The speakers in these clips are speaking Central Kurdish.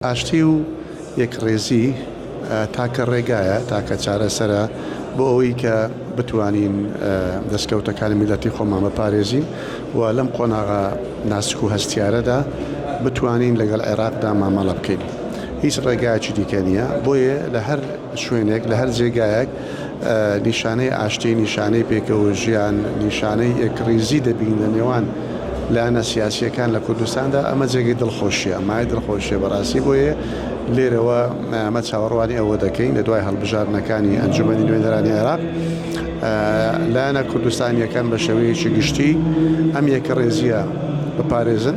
ئاشتی و یەکڕیزی تاکە ڕێگایە، تاکە چارەسەرە بۆ ئەوەی کە بتوانین دەستکەوتەکانی میللەتی خۆمان بپارێزین و لەم قۆناغە ناسک و هەستیارەدا بتوانین لەگەڵ عێراقدا مامەڵە بکەین. هیچ ڕێگایەکی دیکە نییە، بۆیە لە هەر. شوێنێک لە هەر جێگایەک نیشانەی ئاشتی، نیشانەی پێکەوە ژیان، نیشانەی یەکڕیزی دەبینین لە نێوان لایەنە سیاسییەکان لە کوردستاندا، ئەمە جێگەی دڵخۆشییە، مایەی دڵخۆشییە بەڕاستی، بۆیە لێرەوە ئەمە چاوەڕوانی ئەوە دەکەین لە دوای هەڵبژاردنەکانی ئەنجومەنی نوێنەرانی عێراق لایەنە کوردستانییەکان بە شێوەیەکی گشتی ئەم یەکەڕێزییە بپارێزن.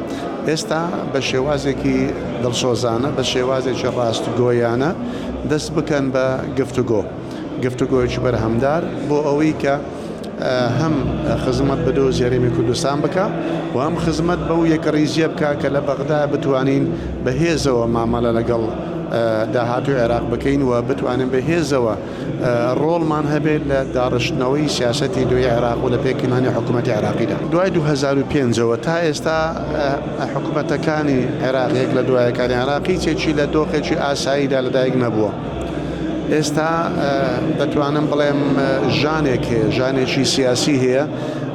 ئێستا بە شێوازێکی دڵسۆزانە، بە شێوازێکی ڕاستگۆیانە دەست بکەن بە گفتوگۆ، گفتوگۆیەکی بەرهەمدار بۆ ئەوەی کە هەم خزمەت بە دۆزی هەرێمی کوردستان بکا و هەم خزمەت بەو یەکەڕیزیە بکا کە لە بەغدا بتوانین بە هێزەوە مامەڵە لەگەڵ داهاتووی عێراق بکەین و بتوانین بە هێزەوە ڕۆڵمان هەبێت لە داڕشتنەوەی سیاسەتی دوێی عێراق و لە پێکهێنانی حکوومەتی عێراقیدا دوای 2005ەوە تا ئێستا حکوومەتەکانی عێراق یەک لە دوایەکانی عێراقی چێکی لە دۆخێکی ئاساییدا لەدایک نەبووە ئێستا دەتوانم بڵێم ژانێک هەیە ژانێکی سیاسی هەیە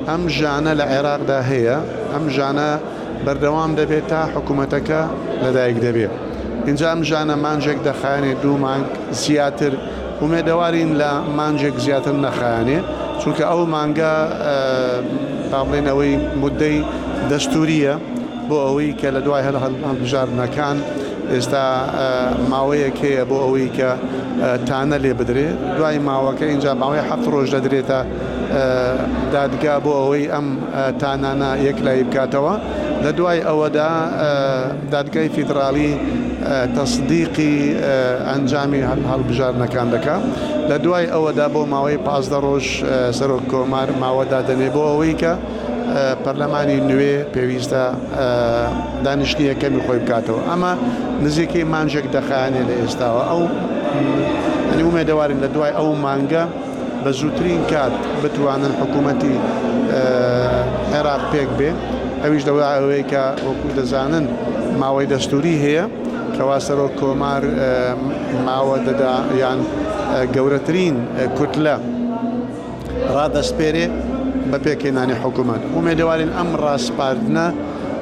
ئەم ژانە لە عێراقدا هەیە ئەم ژانە بەردەوام دەبێت تا حکومەتەکە لەدایک دەبێت ئینجا ئەم ژانە مانجێک دەخایەنێ دوو مانگ زیاتر ئومێدەوارین لە مانجێک زیاتر نەخایەنێ چونکە ئەو مانگە با بڵێن ئەوەی مدەی دەستووریە بۆ ئەوەی کە لە دوای هەر هەڵبژاردنەکان ئێستا ماوەیەک هەیە بۆ ئەوەی کە تانە لێ بدرێ دوای ماوەکە ئینجا ماوەی هەفت ڕۆژ دەدرێتە دادگا بۆ ئەوەی ئەم تانانا یەکلایی بکاتەوە، لەدوای ئەوەدا دادگای فیدراڵی تەسدیقی ئەنجامی هەڵبژاردنەکان دەکا، لەدوای ئەوەدا بۆ ماوەی پازدە رۆژ سەرۆک کۆمار ماوە دادەنێ بۆ ئەوەی کە پەرلەمانی نوێ پێویستە دانیشتنی یەکەمی خۆی بکاتەوە، ئەمە نزیکەی مانگێک دەخایەنێ لە ئێستاوە، ئەو ئومێدەوارین لەدوای ئەو مانگە. بە زووترین کات بتوانن حکوومەتی عێراق پێک بێ ئەویش لەوە ئەوەیە کە وەکوو دەزانن ماوەی دەستووری هەیە کەوا سەرۆک کۆمار ماوە دەدا یان گەورەترین کوتلە ڕادەسپێرێ بە پێکهێنانی حکوومەت ئومێدەوارین ئەم ڕاسپاردنە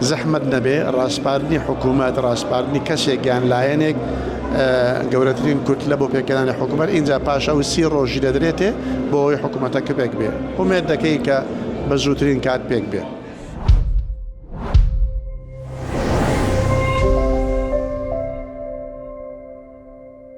زەحمەت نەبێ ڕاسپاردنی حکوومەت، ڕاسپاردنی کەسێک یان لایەنێک گەورەترین کوتلە بۆ پێکهێنانی حکوومەت، ئینجا پاش ئەو سی ڕۆژی دەدرێتێ بۆ ئەوەی حکوومەتەکە پێک بێ. ئومێد دەکەین کە بە زووترین کات پێک بێ.